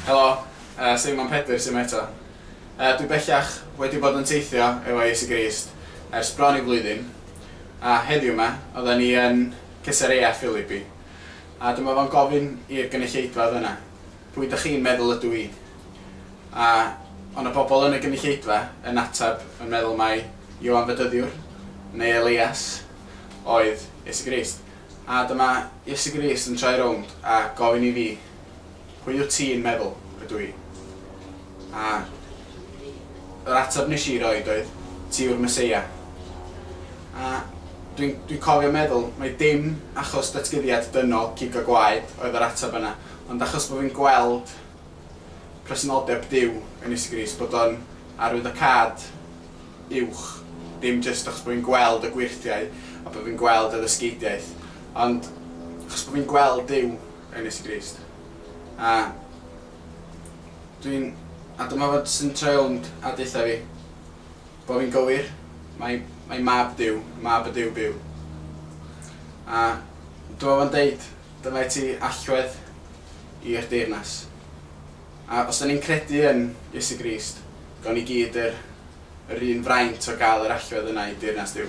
Helo, yy Seimon Pedr sy 'ma eto. Yy dwi bellach wedi bod yn teithio efo Iesu Grist ers bron i flwyddyn, a heddiw 'ma oddan ni yn Cesarea Philippi, a dyma fo'n gofyn i'r gynulleidfa oedd yna, Pwy dych chi'n meddwl ydw i? A o' 'na bobl yn y gynulleidfa yn ateb yn meddwl mai Ioan Fedyddiwr, neu Elias, oedd Iesu Grist. A dyma Iesu Grist yn troi rownd a gofyn i fi, 'Pwy wyt ti'n meddwl ydw i? A yr ateb nes i roid oedd, 'Ti yw'r Meseia. A dwi'n cofio meddwl mai dim achos datguddiad dynol cig a gwaed oedd yr ateb yna, Ond achos bod fi'n gweld presenoldeb Duw yn Iesu Grist, bod o'n arwyddocâd uwch, dim jyst achos bod fi'n gweld y gweirthiau a bod fi'n gweld y ddysgeidiaeth, ond achos bod fi'n gweld Duw yn Iesu Grist. A dwi'n... a dyma fod sy'n troi rownd a deutha fi bod fi'n gywir, mae, mae Mab Duw, Mab y Duw byw. A dyma fo'n deud, Dylai ti allwedd i'r deyrnas. A os 'da ni'n credu yn Iesu Grist, gawn ni gyd yr yr un fraint o gael yr allwedd yna i deyrnas Duw.